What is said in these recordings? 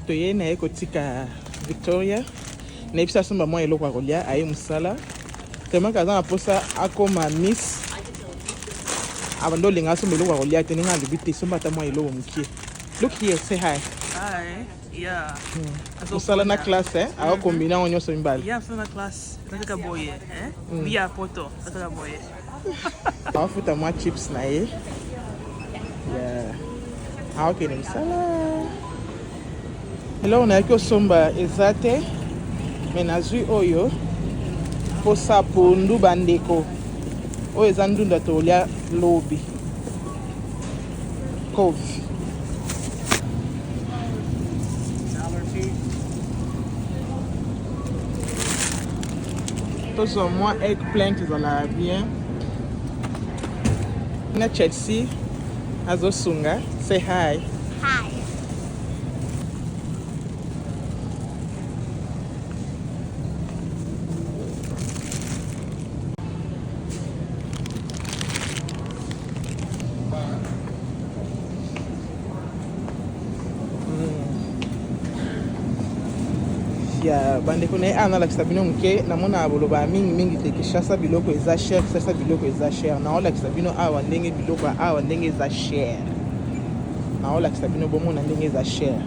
toye naye kotika victoria nayebisi asomba mwa eloko ya kolia aye mosala temaka aza na mposa akoma miss abanda olinga asomba eloko ya kolia te ndenge alobi te somba ata mwa eloko mokie look here say hi mosala na classe eh? akokombina yango nyonso mibale afuta mwa chips na ye aokende mosala eloko nayaki osomba eza te me nazwi oyo mposa pondu bandeko oyo eza ndunda tolya lobi kofi tozwa mwa eggplant ezalaka bien na chelsea azosunga say hi ya bandeko na ye awa nalakisa bino moke namona boloba mingi mingi te kinshasa biloko eza cher kinshasa biloko eza cher naolakisa bino awa ndenge biloko ya awa ndenge eza cher naolakisa bino bomona ndenge eza cher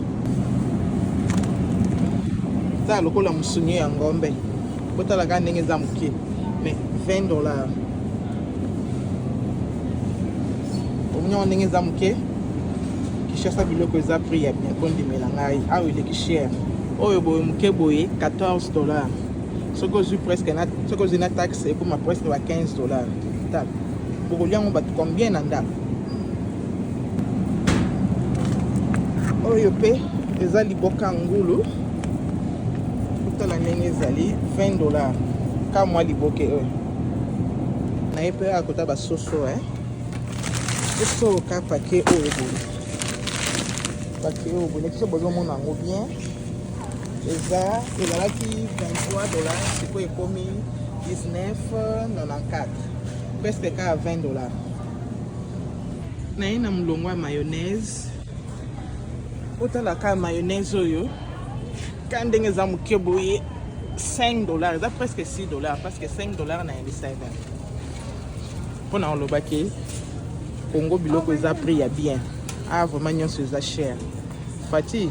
eza lokola mosuni ya ngombe botalaka ndenge eza moke mais 20 dollars omoni yango ndenge eza moke kinshasa biloko eza prix ya bien kondimela ngai awa eleki cher oyo boye moke boye 14 dollars soki ozwi presque soki ozwi na taxe ekoma presque ba 15 dollars tala bokolia yango bato combien na ndako oyo mpe eza liboka ngulu kotala ndenge ezali 20 dollars ka mwa liboke oyo na ye mpe akota basoso eh. biso ka pake oyo boye pake oyo boye biso bozomona yango bien eza ezalaki 23 dollar sikoyo ekomi 1994 presque kaka 20 dollar naye na molongo ya mayonnaise otala kaka mayonnaise oyo ka ndenge eza moke boye 5 dollar eza presque 6 dollar parce que 5 dollar na yebisa ebene mpo na koloba ke congo biloko eza prix ya bien ah vraiment nyonso eza cher fati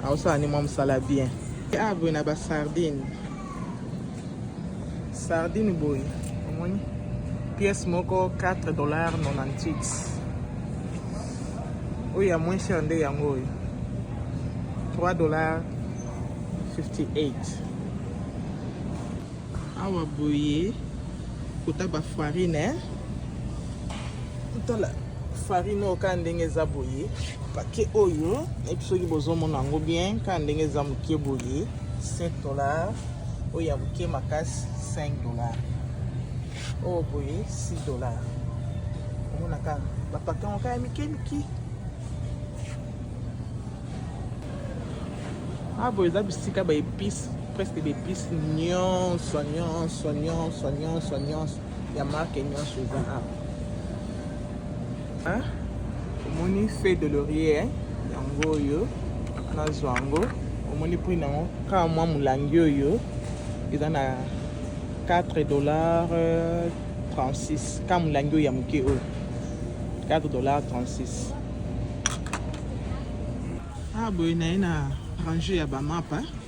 aosala nde mwa mosala bien ah boye na basardine sardine boye omoni pièce moko 4 dollar 98 oyo ya moins cher nde yango oyo 3 dollar 58 awa boye kota ba farine tala farine oyo kaka ndenge eza boye pake oyo nayebi soki bozomona yango bien kaka ndenge eza moke boye 7 dollar oyo ya moke makasi 5 dollar oyo boye 6 dollar omona kaka bapake yango kaka ya mike mike abo ah, eza bisika ba epice presque ba epice nyonso nyonso nyonso nyonso nyonso ya marke nyonso eza awa omoni feu de laurier yango oyo nazwa yango omoni prix na yango kaka mwa molangi oyo eza na 4 dollar 36 kaka molangi oyo ya moke oyo 4 dollar 36 ah boye naye na range ya bamapa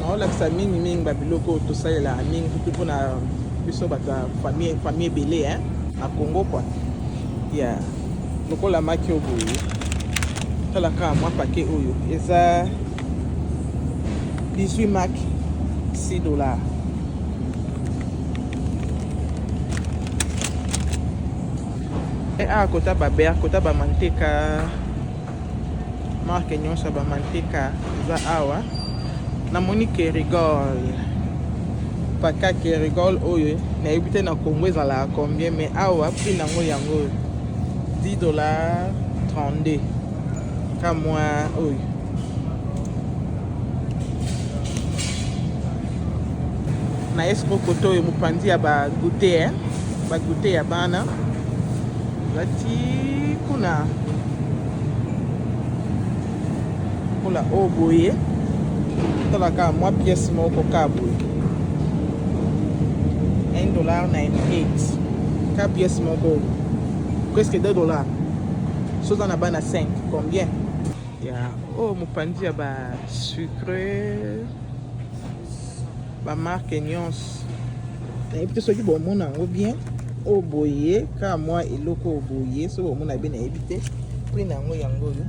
naolakisa mingi mingi babiloko oyo tosalelaka mingi kutu mpona biso bato ya famille famille ebele eh? na congo kua ya lokola maki oyo boye tala kaka mwa pake oyo eza 18 mak 6 dollar eh, awa ah, kota baber kota bamanteka marke nyonso ya bamanteka eza awa namoni kerigol paka kerigol oyo nayebi te na congo ezalaka combien mais awa prix nango yango 10 dollar 32 kamwa oyo na esco koto oyo mopanzi ya bagute eh? bagute ya bana lati kuna lokola oyo oh boye talaka mwa pièce moko ka boye 1 dollar 98 ka pièce moko presque 2 dollar so oza na bana 5 combien ya oyo oh, mopanzi ya ba sucre ba marque nyonso nayebi te soki bomona yango bien oyo oh, boye kaka mwa eloko oyo oh, boye soki bomona bien nayebi te prix na yango yango oyo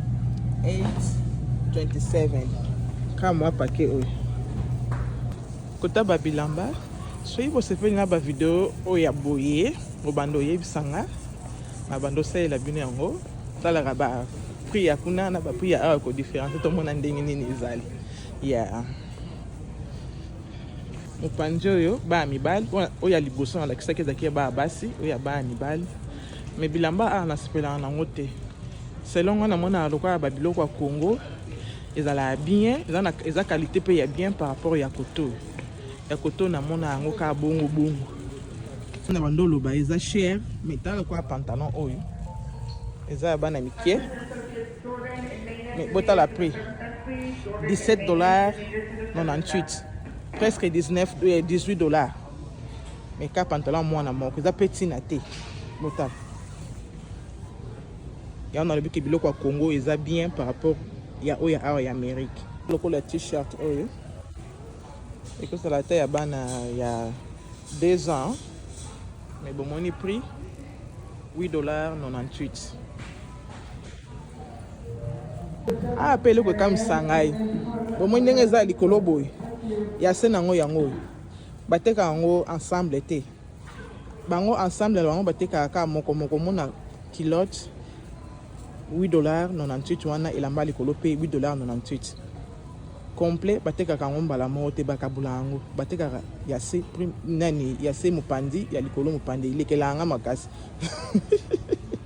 827 kaka mwa pake oyo kotaba bilamba soki bosepeli na bavideo oyo ya boye obanda oyebisa nga na banda osalela bino yango talaka ba prix ya kuna na ba prix ya awa kodifference tomona ndenge nini ezali ya yeah. mopanzi oyo baa mibali oyo ya liboso nalakisaki ezalaki ya baa basi oyo ya baa mibali me bilamba awa nasepelaka nango te selon nga namonaka lokola babiloko ya congo ezalaka bien eza qualité mpe ya bien par rapport ya koto ya koto namona yango kaka bongo bongo na bando oloba eza cher me tala lokola pantalon oyo eza ya bana mike Mais botala prix 17 dollars 98 presque 19 18 euh, dollars mais ka pantalon mwana moko eza mpe ntina te botala yango nalobi ke biloko ya congo eza bien par rapport ya oyo ya awa ya amérique lokola t-shirt oyo ekozala ata ya bana ya 2 ans mais bomoni prix 8 dollars 98 ah mpe eloko ekamwisa ngai bomoi ndenge eza likolo boye ya se na yango yango oyo bateka yango ensemble te bango ensemble na bango batekaka kaka moko moko mona kilote 8 dollars 98 wana elamba likolo mpe 8 dollars 98 complet batekaka yango mbala moko te bakabula yango batekaka ya se nani ya se mopanzi ya likolo mopanzi elekelaka nga makasi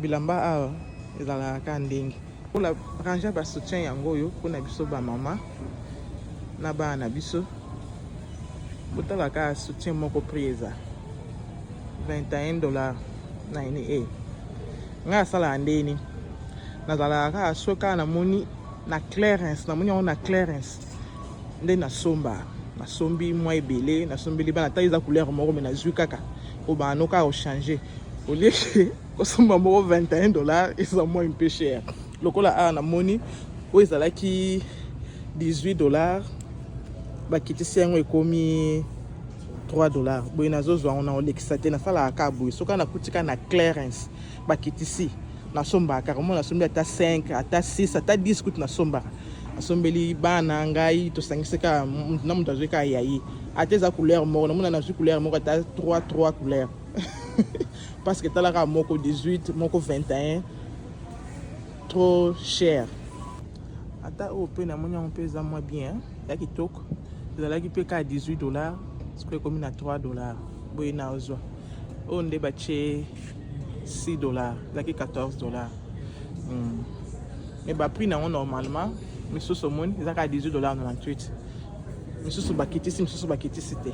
Bilamba awa ezalaka ka ndenge kola rangea ba soutien yango oyo mpo na biso bamama na bana na biso botala ka soutien moko prix eza 21 dollar na ene e ngai asalaka ndeni nazalaka kaka soki kaka namoni na clarence namoni yango na clarence nde nasomba nasombi mwa ebele nasombeli bana ata eza couleur moko me nazwi kaka po bano kaka kochange olie ke kosomba moko 21 dollar eza mwa mpe cher lokola awa namoni oyo ezalaki 18 dollar bakitisi yango ekomi 3 dollar boye nazozwa yango na olekisa te nasalaka kaka boye soki nakuti kaka na clarence bakitisi nasombaka kaka mwana asombi ata 5 ata 6 ata 10 kutu nasombaka asombeli bana ngai tosangisi kaka moto na moto azwi kaka ya ye ata eza couleur moko namona nazwi couleur moko ata 3 3 couleur parce que etalaka moko 18 moko 21 trop cher ata oyo mpe namoni yango mpe eza mwa bien ya kitoko ezalaki mpe kaka 18 dollar sikoyo ekomi na 3 dollar boye nazwa oyo nde batie 6 dollars ezalaki 14 dollars mm. mais baprix na yango normalement misusu omoni eza kaka 18 dollars 98 misusu bakitisi misusu bakitisi te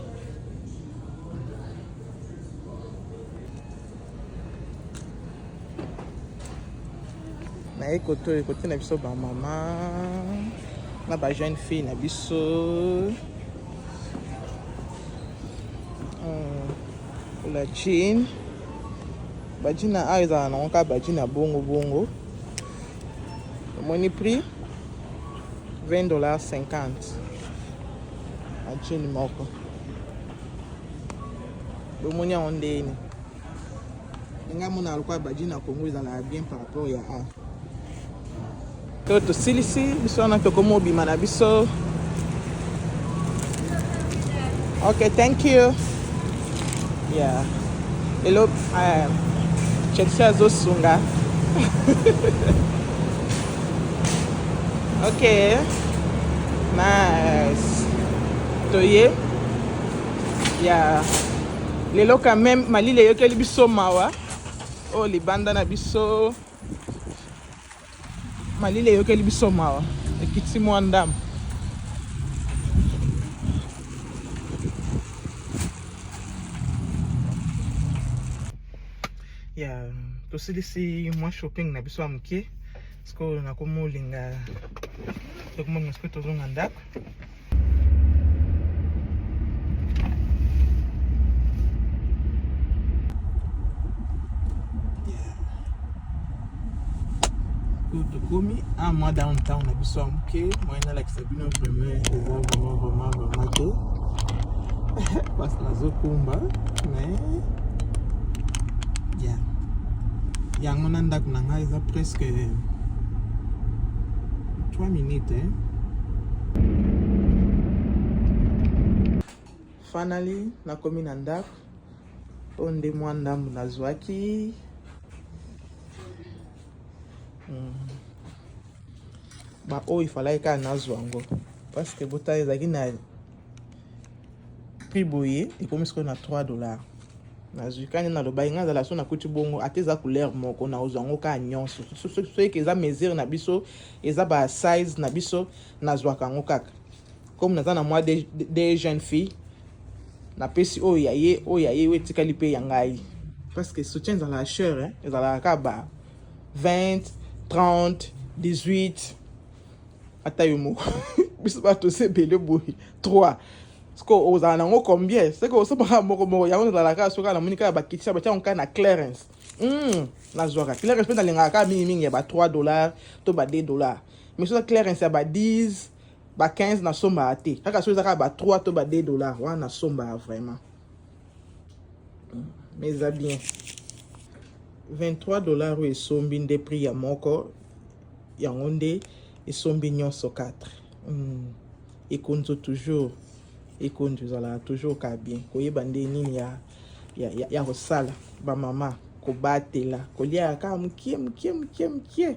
naye koto ekote na biso bamama na ba jeune fille na biso La jean bajina awa ezala nango kaka bajina bongo bongo omoni prix 20 dollars 50 ajini moko bomoni yango ndeni nga mona lokola bajina congo ezalaka bien par rapport ya a To tosilisi biso wana tokomi obima na biso. Okay, thank you. Yeah. Hello. Uh, Chelsea azosunga. okay. Nice. Toye. Yeah. Lelo quand même malile yokeli biso mawa. Oh libanda na biso. Malili eyokeli biso mawa, ekiti mwa ndambo. ya tosilisi mwa shopping na biso ya moke sikoyo nakomi olinga tokomona sikoyo tozonga ndako tokomi un mois downtown na biso ya moke moyen nalakisa bino vraiment eza vraiment vraiment vraiment te parce nazokumba mais ya yango na ndako na ngai eza presque 3 minutes hein? finally nakomi na ndako oyo nde mwa ndambo nazwaki hmm. baoyo ifalaki kaka nazwa yango parceke botala ezalaki na prix boye ekomi sikoyo na 3 dollars nazwi kani nalobaki ngai azala so nakuti bongo ata eza couleur moko naozwa yango kaka nyonso soki eza mesure na biso eza ba size na biso nazwaka yango kaka comme naza na mwa de, de, de jeune fille napesi oyo ya ye oyo ya ye oyo etikali mpe ya ngai parce que soutien ezalaka chere eh? ezalaka kaka ba 20 30 18 ata yo moko biso ba to se bele boyi 3 siko ozala nango combien seke osomaka moko moko yango nazalaka soki na moni kaka bakitisa batya ngai na clarence hmm, nazwaka clarence mpe nalingaka kaka mingimingi ya ba 3 dollars to ba 2 dollars mais soza clarence ya ba 10 ba 15 nasombaka te kaka soki eza kaka ba 3 to ba 2 dollars wana nasombaka vraiment hmm, mais eza bien 23 dollars oyo esombi nde prix ya moko yango nde esombi nyonso 4 mm. ekonzo toujours ekonzo ezalaka toujours ka bien koyeba nde nini ya, ya, ya, ya kosala bamama kobatela kolia kaka mokie mokie mokie mokie